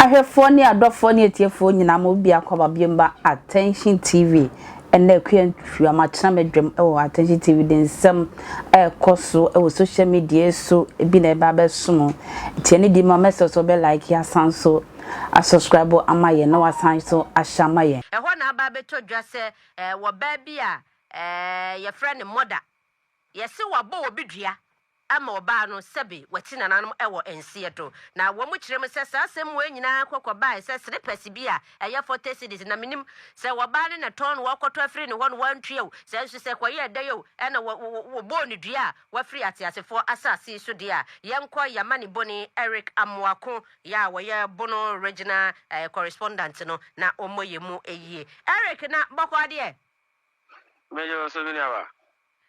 Ahwɛfoɔ ne adɔfoɔ ne atiefoɔ nyinaa mo biako aba bio mba Attention TV ɛnɛ akua ntwa ma kyena me dwam ɛwɔ Attention TV de nsɛm ɛkɔ so ɛwɔ social media so ebi na ɛba bɛso mo tiɛ ne di ma mɛsɛ so bɛ like asan so Asɔskraibo ama yɛn na wasan nso ahyɛ ama yɛn. Ɛhɔ na aba abɛtɔ dwa sɛ wɔ baa bi a yɛfrɛ no Mɔda, yɛse wɔabɔ obi dua ama ɔbaa no sɛbe wati nananom wɔ nseɛ do. Na wɔn kyerɛ mu sɛ saa asɛm wei nyinaa kɔ kɔbaeɛ sɛ srepɛse bi a ɛyɛ fɔte cedis, na mennim sɛ ɔbaa no na ɛtɔn no, wɔkɔtɔ afiri ne hɔ na wantua o, sɛ nso sɛ ɛkɔyɛɛ dɛn o, ɛna wɔbɔɔ no dua a Wafiri ateasefoɔ asase so deɛ a, yɛnkɔ y'amanebɔne Eric Amoako, yɛ a wɔyɛ Bono Regional eh, Correspondent no, na ɔmmɔ yɛn mu ayie. Eric, na bɔkɔɔ deɛ? Mede wo so me nuaba.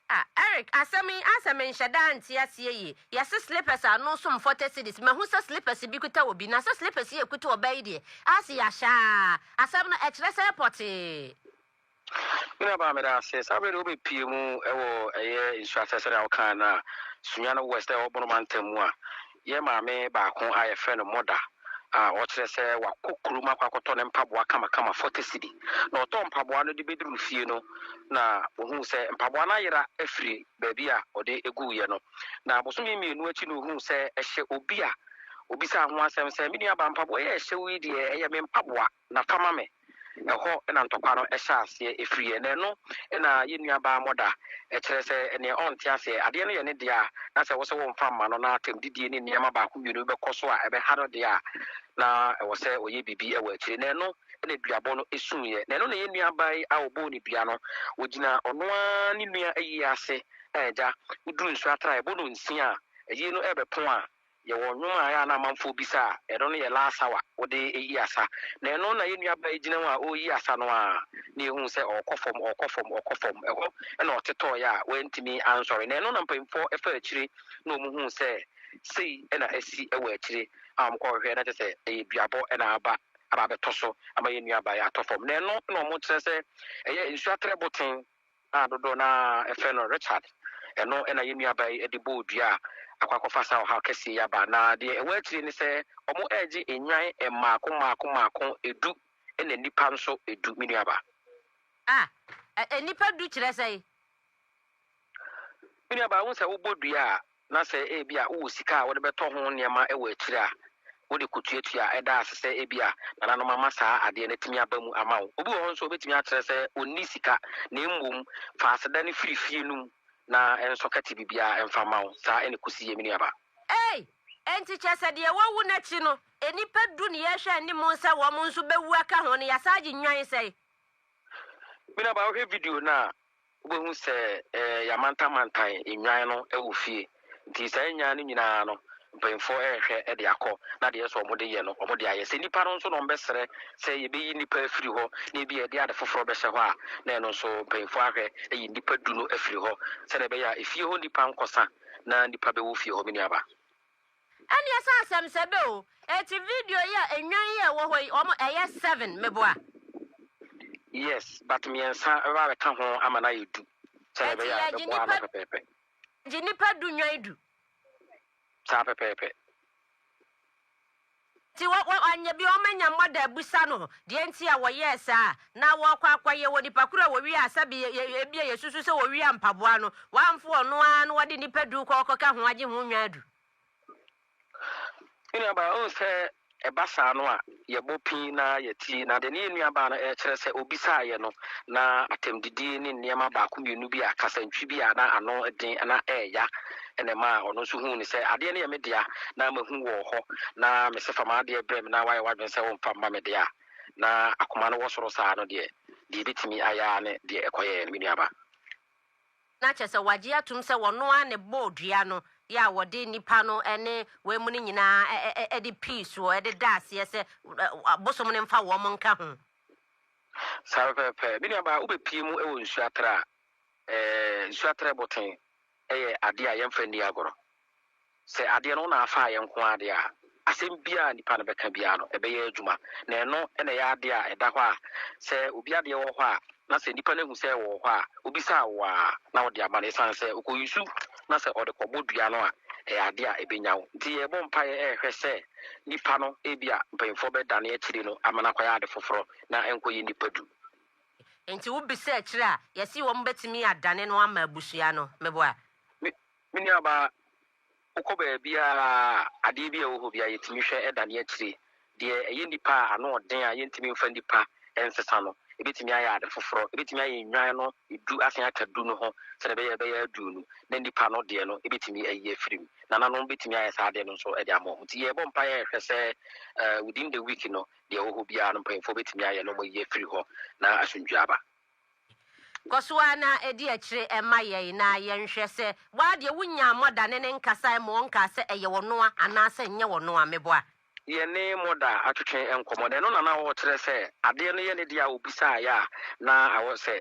Ah, Eric, asɛm yi asɛ menhyɛ da ante aseɛ yie. Yɛse slippers a ano som 40 cedis, mahu sɛ slippers bi kuta obi, na sɛ slippers yi ekuta ɔbaa yi deɛ, asɛ yɛahyɛ aa. Asɛm no, ɛkyerɛ sɛ pɔtee. Me nuabaa meda ase. Saa berɛ deɛ wobɛpie mu wɔ ɛyɛ nsuaseɛ sɛdeɛ wokaa no a, Sunyani West a ɛwɔ Bono mantam mu a, yɛn maame baako a yɛfrɛ no Mɔda a ɔkyerɛ sɛ wakɔ kurom akɔ akɔtɔ ne mpaboa kamakama 40 cedi. Na ɔtɔɔ mpaboa no de bɛduruu fie no na ɔhuu sɛ mpaboa no ayera afiri baabi a ɔde guiɛ no. Na bosome mmienu akyi na ɔhuu sɛ ɛhyɛ obi a ɔbisaa ho asɛm sɛ, Me nuabaa mpaboa yi a ɛhyɛ wo yi deɛ ɛyɛ me mpaboa? Na fa ma me. Ɛhɔ na ntɔkwa no hyɛ aseɛ, ɛfiriiɛ. Na ɛno na yɛn nuabaa Mɔda, ɛkyerɛ sɛ, neɛ ɔnte aseɛ, adeɛ no yɛ ne dea, na sɛ wose womfa mma no, na atɛmdidie ne nneɛma baako mmienu bi bɛkɔ so a ɛbɛha no deɛ a, na ɛwɔ sɛ ɔyɛ biribi wɔ akyire. Na ɛno na duabɔ no suiɛ. Na ɛno na yɛn nuabaa yi a wɔbɔɔ no dua no, ɔgyina ɔno ara ne nua ayie ase, na agya, woduru nsuo atraeɛ, bɔ no nsia a, ayie no rebɛpɔn a, Yɛwɔ nnwom a ɛyɛ a na amanfoɔ bisa a, ɛno no yɛ last hour wode reyi asa. Na ɛno na yɛn nuabaa yi gyina mu a ɔreyi asa no ara na yɛhuu sɛ ɔrekɔ fam, ɔrekɔ fam, ɔrekɔ fam. Ɛhɔ na ɔtetɔeɛ a wantumi ansɔre. Na ɛno na mpanimfoɔ faa akyire na wɔhuu sɛ sei na asi wɔ akyire a wɔkɔhwehwɛɛ na kyerɛ sɛ ɛyɛ duabɔ na aba aba abɛtɔ so ama yɛn nuabaa yi atɔ fam. Na ɛno na wɔkyerɛ sɛ ɛyɛ nsuo atrɛboten a dodoɔ no ara frɛ no Richard, ɛno na yɛn nuabaa yi de bɔɔ dua a akɔ akɔfa saa ɔhaw kɛseɛ yi aba. Na deɛ ɛwɔ akyire ne sɛ, wɔregye nnwan mmaako mmaako mmaako du na nnipa nso du, me nuabaa. Ah, nnipa du kyerɛ sɛn? Me nuabaa, wohu sɛ wobɔ dua a, na sɛ ebia wowɔ sika a wode bɛtɔ ho nneɛma wɔ akyiri a, wode kɔtuatua. Ɛda ase sɛ ebia nananom ama saa adeɛ no atumi aba mu ama wo. Obi wɔ hɔ nso a, ɔbɛtumi akyerɛ sɛ ɔnni sika, na mmom fa aseda no firi fie no mu na ɛnsɔ kɛte biribiara mfa mma wo. Saa na ɛkɔsi yɛ, me nuabaa. Ei! Enti kyerɛ sɛ deɛ wɔawu no akyi no, nnipa du ne yɛrehwɛ anim sɛ wɔn nso bɛwu aka ho no, yɛasan agye nnwan sɛn? Me nuabaa, wohwɛ video no a, Wobɛhu sɛ yɛamantamantan nnwan no wɔ fie. Nti saa nnwan no nyinaa no, mpanyimfoɔ rehwɛ de akɔ, na deɛ ɛsɛ sɛ wɔde yɛ no, wɔde ayɛ. Sɛ nnipa no nso na wɔbɛsrɛ sɛ yɛbɛyi nnipa afiri hɔ, na ebia yɛde ade foforɔ bɛhyɛ hɔ a, na ɛno nso mpanyimfoɔ ahwɛ ayi nnipa du no afiri hɔ, sɛdeɛ ɛbɛyɛ a efie hɔ nnipa renkɔsa, na nnipa bɛwɔ fie hɔ, me nuabaa. Ɛneɛ sɛ asɛm sɛ bɛ o. Eti video yi a nnwan yi a ɛwɔ hɔ yi wɔn ɛyɛ seven meboa? Yes but mmiɛnsa ra bɛka ho ama no ayɛ du sɛdeɛ ɛbɛyɛ a ɛbɛboa ano pɛpɛɛpɛ. Gye nipa du nnwan du. Saa pɛpɛɛpɛ. Nti wɔ, wɔ, wɔanyɛ bi, wɔanya mmɔ da abisa no deɛ nti a wɔyɛɛ saa. Na wɔrekɔ akɔyɛ wɔ nipa koro a wɔwiaa, sɛbe yɛ, yɛ, ebia yɛsusu sɛ wɔwiaa mpaboa no, wɔamfo ɔno ara na wɔde nnipa du kɔ rekɔka ho agye ho nnwan du. Me nuabaa, wohu sɛ ɛba saa no a, yɛbɔ pii na yɛte, na deɛ ne yɛn nuabaa no rekyerɛ sɛ ɔbisaaeɛ no, na atɛmdidie ne nneɛma baako mmienu bi a, kasantwi bi a na ano den na ɛreya, na ɛmaa ɔno nso huu no sɛ adeɛ no yɛ me dea na mahu wɔ hɔ, na me se fa m'adeɛ brɛ me na woayɛ w'adwene sɛ womfa mma me deɛ a, na akoma no wɔ soro saa no deɛ, deɛ ɛbɛtumi ayɛ ara ne deɛ ɛkɔyɛeɛ no, me nuaba. Na kyerɛ sɛ wɔagye atom sɛ ɔno ara na ɛbɔɔ dua no yɛ a wɔde nnipa no ne wei mu no nyinaa de pii soɔ de daa aseɛ sɛ bosom no mfa wɔn nka ho. Saa pɛpɛɛpɛ. Me nuaba, wobɛpue mu wɔ nsuo atrɛ a, ɛɛ, nsuo atrɛ boten. yɛ adeɛ a yɛmfa nni agorɔ. Sɛ adeɛ no wo na afa ayɛ nko ara deɛ a, asɛm biara a nipa no bɛka biara no, ɛbɛyɛ adwuma. Na ɛno na ɛyɛ adeɛ a ɛda hɔ a, sɛ obi adeɛ wɔ hɔ a, na sɛ nipa no ahu sɛ ɛwɔ hɔ a, ɔbisa wo a, na ɔde ama no. Ɛsiane sɛ ɔkɔyi su na sɛ ɔde kɔbɔ dua no a, ɛyɛ adeɛ a ɛbɛnya wo. Nti yɛrebɔ mpaeɛ rehwɛ sɛ nipa no, ebia mpanimfoɔ bɛdane akyire no ama no akɔyɛ ade foforɔ na ɛnkɔyɛ nipa du. Enti wobisa akyiri a, yɛse wɔbɛtumi adane no ama abusua no. Meboa? Me me nuabaa, wokɔ baabi a adeɛ bi a ɛwɔ hɔ bi a yɛtumi hwɛ dane akyire. Deɛ ɛyɛ nnipa a ano ɔden a yɛntumi mfa nnipa nsesa no, ɛbɛtumi ayɛ ade foforɔ. Ɛbɛtumi ayɛ nnwan no du asan aka du no ho sɛdeɛ ɛbɛyɛ a ɛbɛyɛ aduonu na nnipa no deɛ no ɛbɛtumi ayi afiri mu. Nananom bɛtumi ayɛ saa adeɛ no nso de ama wɔn. Nti yɛrebɔ mpaeɛ ɛhwɛ sɛ within the week no Deɛ ɛwɔ hɔ biara no, mpanyimfoɔ bɛtumi ayɛ na wɔayi afiri hɔ na asomdwoeɛ aba. Kɔ so ara na di akyire ma yɛn na yɛnhwɛ sɛ woa deɛ wonyaa mɔda ne ne nkasaeɛ ma ɔnkaa sɛ ɛyɛ ɔnoa anaasɛ ɛnyɛ ɔnoa. Meboa? Yɛne mɔda atwetwe nkɔmmɔ na ɛno na na ɔrekyerɛ sɛ adeɛ no yɛ ne dea a ɔbisaeɛ a na ɛwɔ sɛ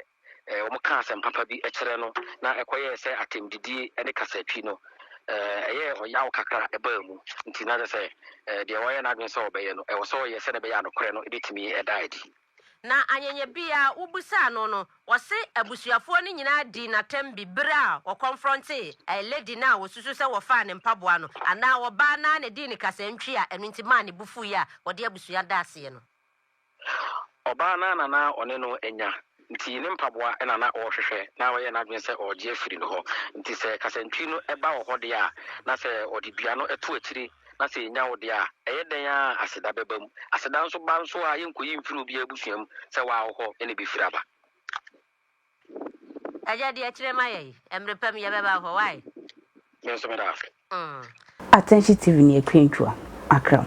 wɔkaa asɛm papa bi kyerɛ no na ɛkɔyɛɛ sɛ atɛmdidie ne kasatwi no, ɛyɛɛ ɔyaw kakra a ɛbaa mu. Nti na kyerɛ sɛ deɛ wayɛ n'adwene sɛ ɔbɛyɛ no, ɛwɔ sɛ ɔyɛ sɛdeɛ ɛbɛyɛ a nokorɛ no bɛtumi da adi. Na anyɛnyɛ bi a wobisaa no no, ɔse abusuafoɔ no nyinaa dii no atɛm bi berɛ a wɔkɔnfrɔntee lady no a wɔsusu sɛ wɔfaa ne mpaboa no, anaa ɔbaa no ara na ɛdii no kasantwi a ɛno nti maa ne bo fuiɛ a ɔde abusua daa aseɛ no. Ɔbaa no ara na na ɔne no anya, enti ne mpaboa na na ɔrehwehwɛ, na wayɛ n'adwene sɛ ɔregye afiri no hɔ. Enti sɛ kasantwi no ba wɔ hɔ deɛ a, na sɛ ɔde dua no to akyire, na sɛ ɛnya wo deɛ a, ɛyɛ dɛn ara a, aseda bɛba mu. Aseda nso ba nso a, yɛnkɔyi mfiri obiara abusua mu sɛ wawo hɔ na ɛbɛfiri aba. Agya di akyire ma yɛn. Mmere pa mu yɛbɛba wo hɔ. Wai? Me nso meda ase. Mm. Atɛnhye TV ne Akwantuo, Akram.